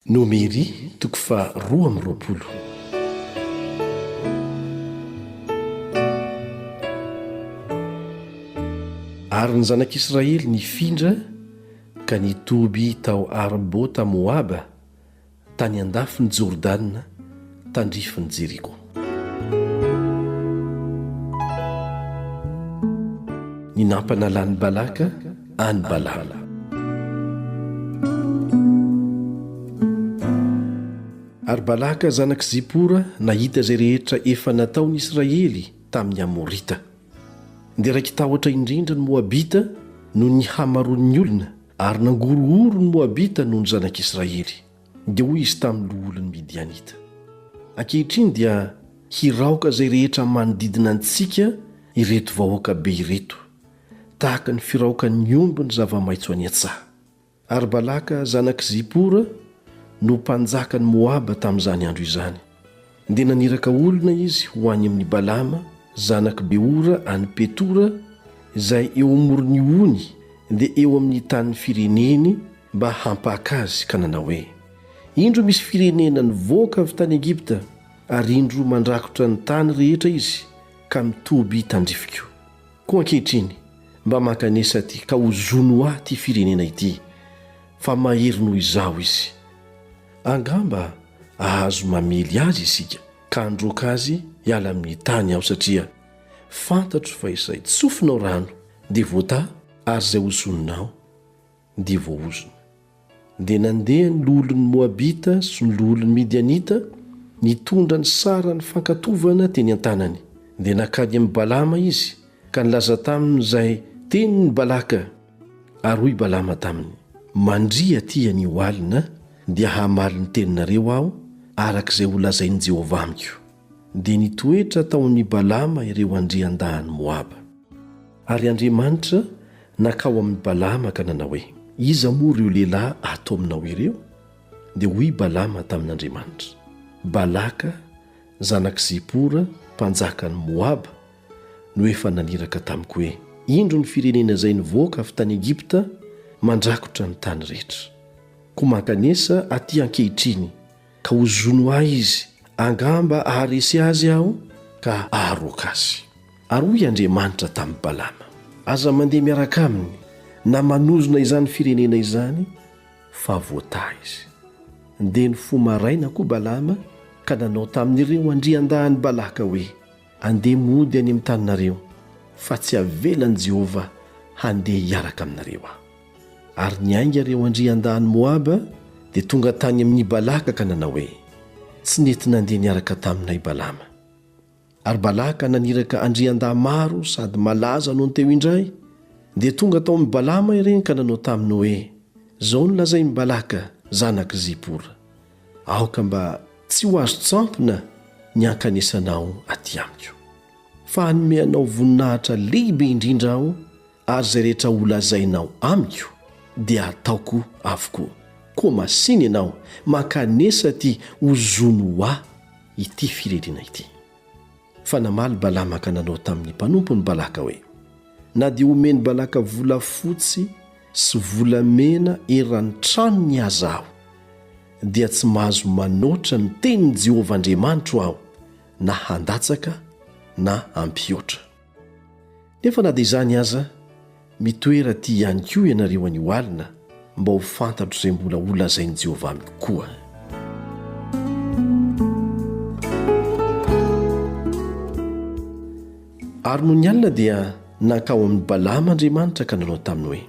Nomery toko faha roa amby roapolo. Ary ny zanak'Israely nifindra ka nitoby tao Arbota-Moaba, tany andafin'i Jordana, tandrifin'i Jeriko. Ny nampanalan'i Balaka an'i Balama. Ary Balaka zanak'i Zipora nahita izay rehetra efa nataon'i Israely tamin'ny Amorita, dia raiki-tahotra indrindra ny Moabita noho ny hamaroan'ny olona, ary nangorohoro ny Moabita noho ny zanak'i Israely. Dia hoy izy tamin'ny loholon'ny Midianita, Ankehitriny dia hiraoka izay rehetra manodidina antsika ireto vahoaka be ireto, tahaka ny firaokan'ny omby ny zava-maitso any an-tsaha. Ary Balaka zanak'i Zipora no mpanjakan'i Moaba tamin'izany andro izany. Dia naniraka olona izy ho any amin'i Balama zanak'i Beora any Petora, izay eo amoron'ny ony, dia eo amin'ny tanin'ny fireneny, mba hampaka azy, ka nanao hoe, Indro misy firenena nivoaka avy tany Egypta, ary indro mandrakotra ny tany rehetra izy, ka mitoby tandrifiko. Koa ankehitriny, mba maka an'esa aty, ka ozono ho ahy ity firenena ity, fa mahery noho izaho izy. Angamba hahazo mamely azy isika, ka handroaka azy hiala amin'ny tany aho, satria fantatro fa izay tsofinao rano dia voataha, ary izay ozoninao dia voaozona. Dia nandeha ny loholon'ny Moabita sy ny loholon'ny Midianita, nitondra ny saran'ny fankatovana teny an-tanany. Dia nankany amin'i Balama izy, ka nilaza taminy izay tenin'i Balaka. Ary hoy Balama taminy, Mandria atỳ anio alina, dia hamaly ny teninareo aho, araka izay holazain'i Jehovah amiko. Dia nitoetra tao amin'i Balama ireo andriandahin'i Moaba. Ary Andriamanitra nankao amin'i Balama ka nanao hoe, Iza moa ireo lehilahy ato aminao ireo? Dia hoy Balama tamin'Andriamanitra, Balaka, zanak'i Zipora, mpanjakan'i Moaba, no efa naniraka tamiko hoe, Indro ny firenena izay nivoaka avy tany Egypta mandrakotra ny tany rehetra. Koa mankanesa aty ankehitriny, ka hozono ahy izy, angamba haharesy azy aho ka haharoaka azy. Ary hoy Andriamanitra tamin'i Balama, Aza mandeha miaraka aminy, na manozona izany firenena izany, fa voataha izy. Dia nifoha maraina koa Balama ka nanao tamin'ireo andriandahin'i Balaka hoe, Andeha mody any amin'ny taninareo, fa tsy havelan'i Jehovah handeha hiaraka aminareo aho. Ary niainga ireo andriandahin'i Moaba, dia tonga tany amin'i Balaka ka nanao hoe, Tsy nety nandeha niaraka taminay Balama. Ary Balaka naniraka andriandahy maro sady malaza nony teo indray, dia tonga tao amin'i Balama ireny ka nanao taminy hoe, Izao no lazain'i Balaka, zanak'i Zipora, Aoka mba tsy ho azo tsampina ny hankanesanao aty amiko. Fa hanome anao voninahitra lehibe indrindra aho, ary izay rehetra holazainao amiko dia hataoko avokoa. Koa masìna ianao, mankanesa aty ho zony ho ahy ity firenena ity. Fa namaly Balama ka nanao tamin'ny mpanompony Balaka hoe, Na dia omen'i Balaka volafotsy sy volamena eran'ny tranony aza aho, dia tsy mahazo manoatra ny tenin'i Jehovah Andriamanitro aho, na handatsaka na hampihoatra. Nefa na dia izany aza, mitoera aty ihany koa ianareo anio alina mba ho fantatro izay mbola holazain'i Jehovah amiko koa. Ary nony alina dia nankao amin'i Balama Andriamanitra ka nanao taminy hoe,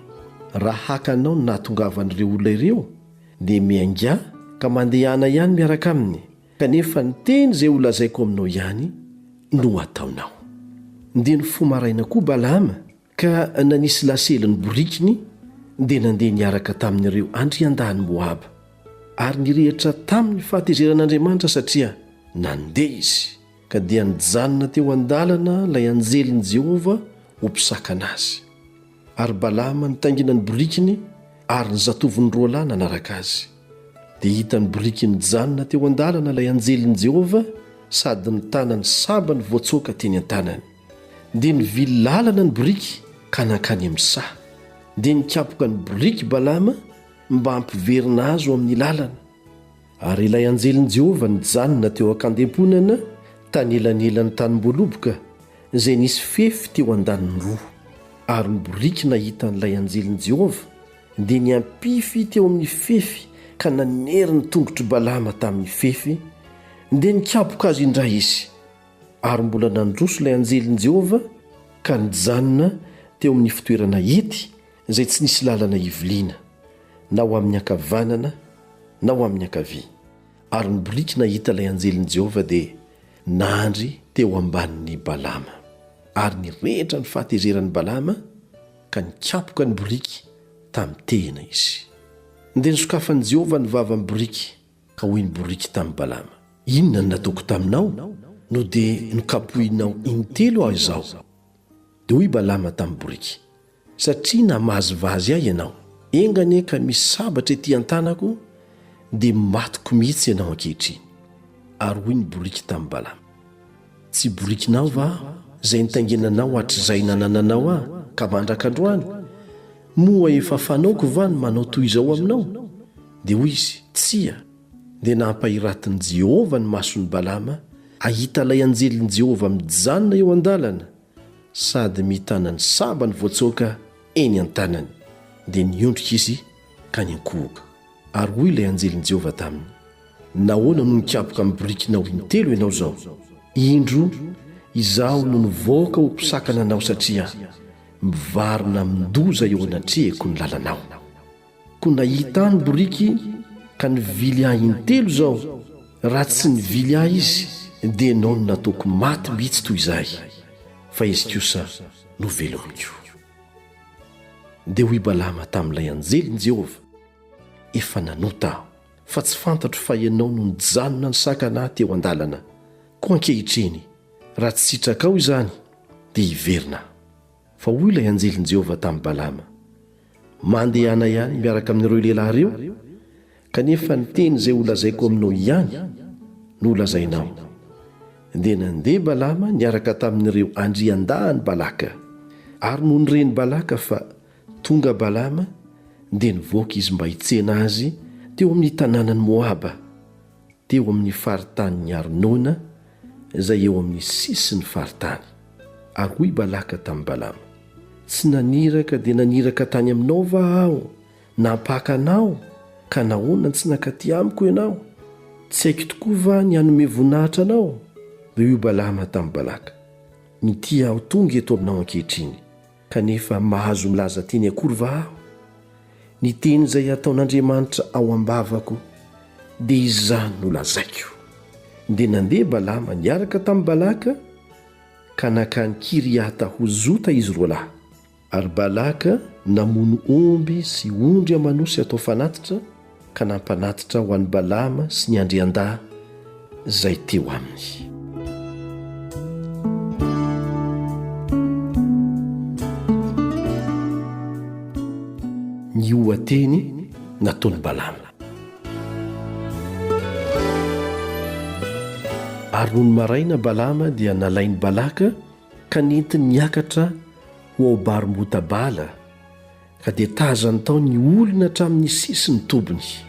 Raha haka anao ny nahatongavan'ireo olona ireo, dia miaingà ka mandehana ihany miaraka aminy, Kanefa ny teny izay holazaiko aminao ihany no hataonao. Dia nifoha maraina koa Balaama ka nanisy lasely ny borikiny dia nandeha niaraka tamin'ireo andriandahin'i Moaba. Ary nirehitra tamin'ny fahatezeran'Andriamanitra satria nandeha izy, ka dia nijanona teo an-dalana ilay anjelin'i Jehovah ho mpisakana azy. Ary Balama nitaingina ny borikiny ary ny zatovony roa lahy nanaraka azy. Dia hita ny borikiny nijanona teo an-dalana ilay anjelin'i Jehovah sady ny tanany sambany voatsoaka teny an-tanany. Dia nivily lalana ny boriky ka nankany amin'ny saha. Dia nikapoka ny boriky Balama mba hampiverina azy ho amin'ny lalana. Ary ilay anjelin'i Jehovah nijanona teo an-kandemponana tanelanelan'ny tanim-boaloboka izay nisy fefy teo an-daniny roa. Ary ny boriky nahita an'ilay anjelin'i Jehovah dia niampify teo amin'ny fefy ka nanery ny tongotr'i Balama tamin'ny fefy, dia nikapoka azy indray izy. Ary mbola nandroso ilay anjelin'i Jehovah ka nijanona teo amin'ny fitoerana hety izay tsy nisy lalana hiviliana. na ho amin'ny ankavanana na ho amin'ny ankavia, ary ny boriky nahita ilay anjelin'i Jehovah dia nandry teo ambanin'i Balama. Ary nirehitra ny fahatezeran'i Balama, ka nikapoka ny boriky tamin'ny tehina izy. Dia nosokafan'i Jehovah ny vavan'ny boriky, ka hoy ny boriky tamin'i Balama, Inona no nataoko taminao, no dia nokapohinao intelo aho izao? Dia hoy Balama tamin'ny boriky, Satria namazivazy ahy ianao, enga anie ka misy sabatra ety an-tanako, dia matiko mihitsy ianao ankehitriny. Ary hoy ny boriky tamin'i Balama, Tsy borikinao va aho, izay nitaingenanao hatrizay nanananao ahy ka mandraka androany? Moa efa fanaoko va ny manao toy izao aminao? Dia hoy izy, Tsia. dia nampahiratin'i Jehovah ny mason'i Balama hahita ilay anjelin'i Jehovah mijanona eo an-dalana sady mitana ny sambany voatsoaka eny an-tanany. Dia niondrika izy ka niankohoka. Ary hoy ilay anjelin'i Jehovah taminy, Nahoana no nikapoka amin'ny birikinao intelo ianao izao? Indro, izaho no nivoaka ho mpisakana anao satria mivarina amin-doza eo anatrehako ny lalanao. Ko nahita ahy ny boriky ka nivily ahy intelo zao raha tsy nivily ahy izy dia enao no nataoko maty mitsy toy zay fa izy kosa no velom ko Dia hoy Balama tamin'ilay anjelin'i Jehovah, Efa nanota aho, fa tsy fantatro fa ianao no nijanona nisakana ahy teo an-dalana. Koa ankehitriny, raha tsy sitrakao izany, dia hiverina aho. Fa hoy ilay anjelin'i Jehovah tamin'i Balama, Mandehana ihany miaraka amin'ireo lehilahy ireo, kanefa ny teny izay holazaiko aminao ihany no holazainao. Dia nandeha Balama niaraka tamin'ireo andriandahin'i Balaka. Ary nony ren'i Balaka fa tonga Balama, dia nivoaka izy mba hitsena azy teo amin'ny tanànan'i Moaba, teo amin'ny faritanin'i Arnona, izay eo amin'ny sisin'ny faritany. Ary hoy Balaka tamin'i Balama, Tsy naniraka dia naniraka tany aminao va aho nampaka anao, ka nahoana no tsy nankaty amiko ianao? Tsy haiko tokoa va ny hanome voninahitra anao? Dia hoy Balama tamin'i Balaka, Mitia aho tonga eto aminao ankehitriny. Kanefa mahazo milaza teny akory va aho? Ny teny izay ataon'Andriamanitra ao am-bavako, dia izany no lazaiko. Dia nandeha Balama niaraka tamin'i Balaka ka nankany Kiriata ho zota izy roa lahy. Ary Balaka namono omby sy ondry aman'osy atao fanatitra, Ka nampanatitra ho an'i Balaama sy ny andriandahy izay teo aminy. Ny oha-teny nataon'i Balaama. Ary nony maraina Balaama dia nalain'i Balaka ka nentiny niakatra ho ao Barmota-bala, Ka dia tazany tao ny olona hatramin'ny sisin'ny tobiny.